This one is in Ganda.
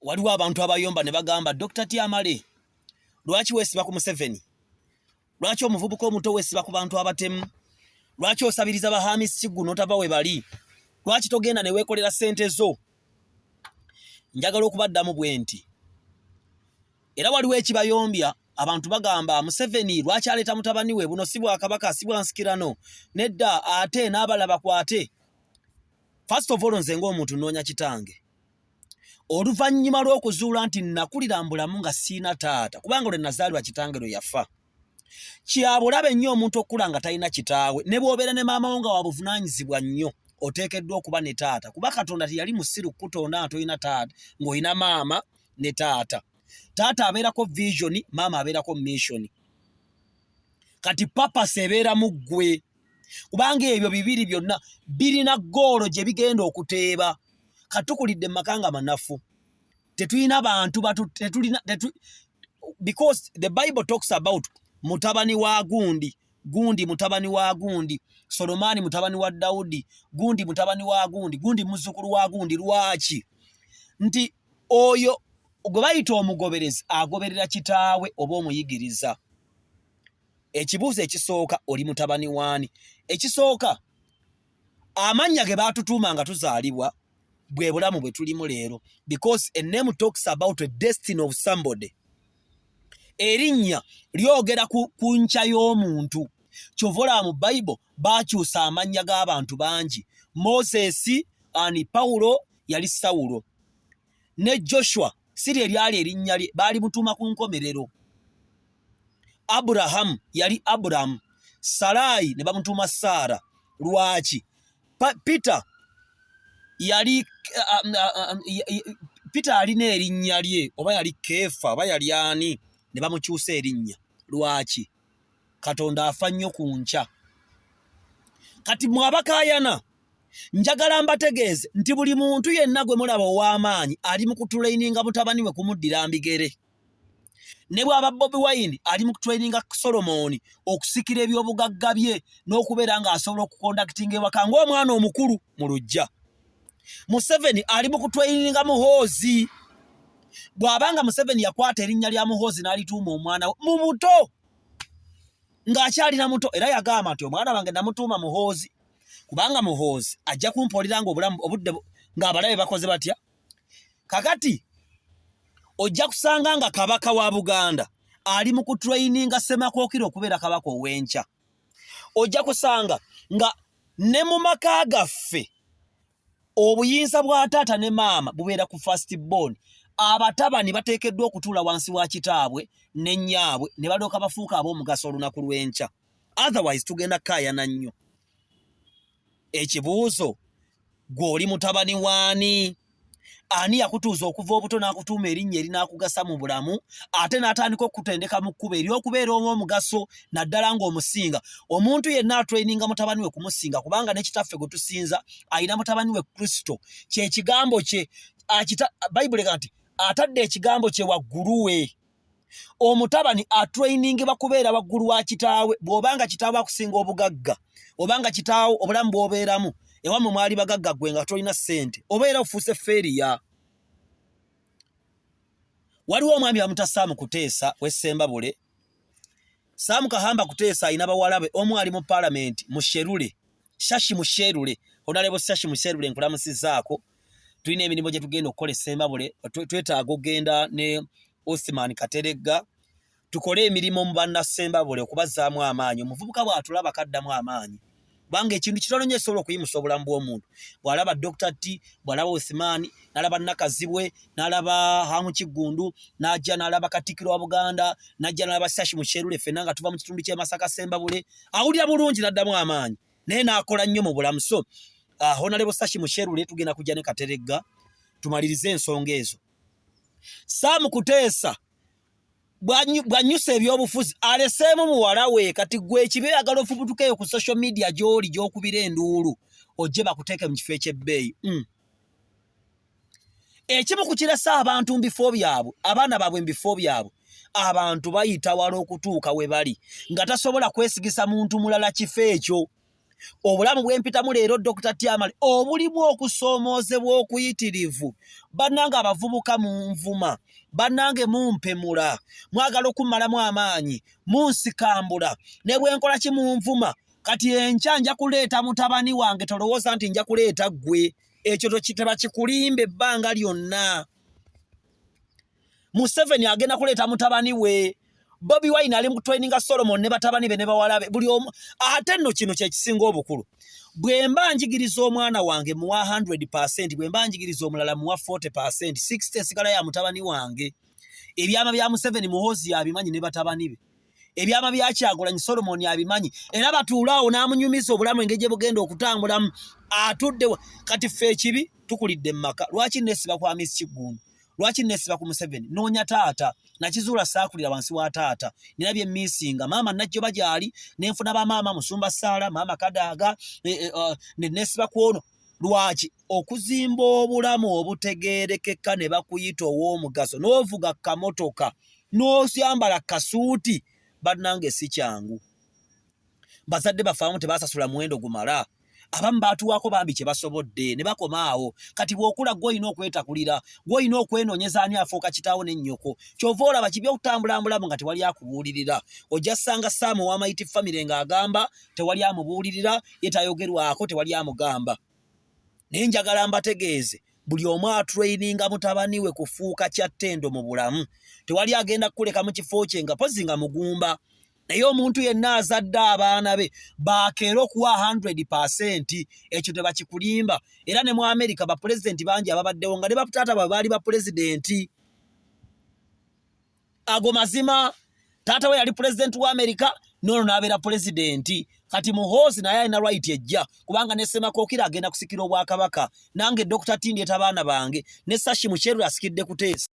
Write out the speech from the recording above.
waliwo abantu abayomba ne bagamba Dr. Tiamale lwaki wesiba ku Museveni lwaki omuvubuka omuto wesiba ku bantu abatemu lwaki osabiriza ba Hamis Kiggu n'otava we bali lwaki togenda ne weekolera sente zo njagala okubaddamu bwe nti era waliwo ekibayombya abantu bagamba Museveni lwaki aleeta mutabani we buno si bwakabaka si bwansikirano nedda ate n'abala bakwate first of all nze ng'omuntu nnoonya kitange oluvannyuma lw'okuzuula nti nakulira mbulamu nga siina taata kubanga lwe nazaalirwa kitange lwe yafa kyabulabe nnyo omuntu okukula nga talina kitaawe ne bw'obeera ne maama wo nga wabuvunaanyizibwa nnyo oteekeddwa okuba ne taata kuba katonda teyali musiru kukutonda nga tolina taata ng'olina maama ne taata taata abeerako visioni maama abeerako missioni kati papasi ebeera mu ggwe kubanga ebyo bibiri byonna birina ggoolo gye bigenda okuteeba katukulidde mumaka nga manafu tetulina bantu tetulina because the bible talks about mutabani wa gundi gundi mutabani wa gundi solomaani mutabani wa dawudi gundi mutabani wa gundi gundi muzzukulu wa gundi lwaki nti oyo gwe bayita omugoberezi agoberera kitaawe oba omuyigiriza ekibuuzo ekisooka oli mutabani waani ekisooka amannya ge baatutuuma nga tuzaalibwa bwe bulamu bwe tulimu leero because a name talks about a destiny of somebody erinnya lyogera ku nkya y'omuntu kyova olaba mu bible baakyusa amannya g'abantu bangi moses ani pawulo yali sawulo ne joshua si lye lyali erinnya lye baali mutuuma ku nkomerero aburahamu yali aburahamu salaayi ne bamutuuma saara lwaki peter yali um, uh, um, peter alina erinnya lye oba yali keefa oba yali ani ne bamukyusa erinnya lwaki katonda afa nnyo ku nkya kati mwabakayana njagala mbategeeze nti buli muntu yenna gwe mulaba ow'amaanyi ali mu kutulaininga mutabani we kumuddira mbigere ne bwaba bobi wine ali mu kutulaininga solomoni okusikira ebyobugagga bye n'okubeera ng'asobola okukondakitinga ewaka ng'omwana omukulu mu lujja museveni ali mu kutweyininga muhoozi bw'abanga museveni yakwata erinnya lya muhoozi n'alituuma omwana we mu buto ng'akyalina muto era yagamba nti omwana wange namutuuma muhoozi kubanga muhoozi ajja kumpoolera nga obulamu obudde ng'abalabe bakoze batya kakati ojja kusanga nga kabaka wa buganda ali mu kutreyininga ssemakokiro okubeera kabaka ow'enkya ojja kusanga nga ne mu maka gaffe obuyinza bwa taata ne maama bubeera ku first born abatabani bateekeddwa okutuula wansi wa kitaabwe ne nnyaabwe ne balyoka bafuuka ab'omugaso olunaku lw'enkya otherwise tugenda kaayana nnyo ekibuuzo gwe oli mutabani waani ani yakutuuza okuva obuto n'akutuuma erinnya erinaakugasa mu bulamu ate n'atandika okukutendeka mu kkuba ery'okubeera omu omugaso naddala ng'omusinga omuntu yenna atraininga mutabani we kumusinga kubanga ne kitaffe gwe tusinza alina mutabani we kristo kyekigambo kye bayibuli ga nti atadde ekigambo kye waggulu we omutabani atrainingibwa kubeera waggulu wa kitaawe bw'oba nga kitaawe akusinga obugagga oba nga kitaawo obulamu bw'obeeramu ewammwe mwali bagagga gwe nga tolina ssente oba era ofuuse feeriya waliwo omwami bamuta saamu kuteesa wessembabule saamu kahamba kuteesa alina bawalabe omu ali mu palamenti musherule shashi musherule onalebo shashi musherule nkulamusizaako tulina emirimu gye tugenda okukola esembabule twetaaga okugenda ne Osman Kateregga tukole emirimu mu bannasembabule okubazzaamu amaanyi omuvubuka bw'atulaba kaddamu amaanyi kubanga ekintu kitono nyo ekisobola okuyimusa obulamu bw'omuntu bw'alaba Dokita T bw'alaba Osman n'alaba Nakazibwe n'alaba Hamu Kiggundu n'ajja n'alaba Katikkiro wa Buganda n'ajja n'alaba Sashi Mukyerule ffenna nga tuva mu kitundu ky'e Masaka Sembabule awulira bulungi n'addamu amaanyi naye n'akola nnyo mu bulamu so uh, honalebo sashi musherule tugenda kujja ne kateregga tumalirize ensonga ezo sam kuteesa bwanyusa ebyobufuzi aleseemu muwala we kati gwe ekibe yagala ofubutukeyo ku social media gy'oli gy'okubira enduulu ojje bakuteeke mu kifo eky'ebbeeyi mm. ekimu ku kirasa abantu mu bifo byabwe abaana baabwe mu bifo byabwe abantu bayita wala okutuuka we bali nga tasobola kwesigisa muntu mulala kifo ekyo obulamu bwempitamu leero dokita tyamale obulimu okusoomoozebwa okuyitirivu bannanga abavubuka mu nvuma bannange mumpemula mwagala okummalamu amaanyi munsikambula ne bwenkola ki munvuma kati enkya nja kuleeta mutabani wange tolowooza nti nja kuleeta ggwe ekyo tokiteba kikulimba ebbanga lyonna museveni agenda kuleeta mutabani we bobi wine ali mutwaininga solomon ne batabani be ne bawala be buli omu ate nno kino kyekisinga obukulu bwe mba njigiriza omwana wange muwa 100 percent bwe mba njigiriza omulala muwa 40 percent 60 esigala ya mutabani wange ebyama bya museveni muhozi yabimanyi ne batabani be ebyama bya kyagulanyi solomoni abimanyi era batuula awo n'amunyumiza obulamu engeri gye bugenda okutambulamu atudde kati ffe ekibi tukulidde mu maka lwaki nesiba kwa miss kiggundu lwaki nesiba ku museveni noonya taata nakizuula saakulira wansi wa taata nina bye misinga maama najjoba gyali nenfuna bamaama musumba saala maama kadaaga e, e, ne nesiba ku ono Lwaki okuzimba obulamu obutegeerekeka ne bakuyita ow'omugaso n'ovuga kamotoka n'osyambala kasuuti bannange si kyangu bazadde baffe abamu tebasasula muwendo gumala abamu baatuwaako bambi kye basobodde ne bakoma awo kati bw'okula gwe olina okwetakulira gwe olina okwenoonyeza ani afuuka kitaawo ne nnyoko kyova olaba kibi okutambulambulamu nga tewali akubuulirira ojja ssanga saamu w'amayiti famire ng'agamba tewali amubuulirira ye tayogerwako tewali amugamba naye njagala mbategeeze buli omu atraininga mutabani we kufuuka kyattendo mu bulamu tewali agenda kukuleka mu kifo kye nga pozi nga mugumba naye omuntu yenna azadde abaana be bakeera okuwa 100 percent ekyo tebakikulimba era ne mu amerika bapulezidenti bangi ababaddewo nga ne bataata bwe baali bapulezidenti ago mazima taata we yali pulezidenti wa amerika noono n'abeera pulezidenti kati muhoozi naye alina right ejja kubanga ne semakookira agenda kusikira obwakabaka nange dokita tindi etabaana bange ne sashi mukyerula asikidde kuteesa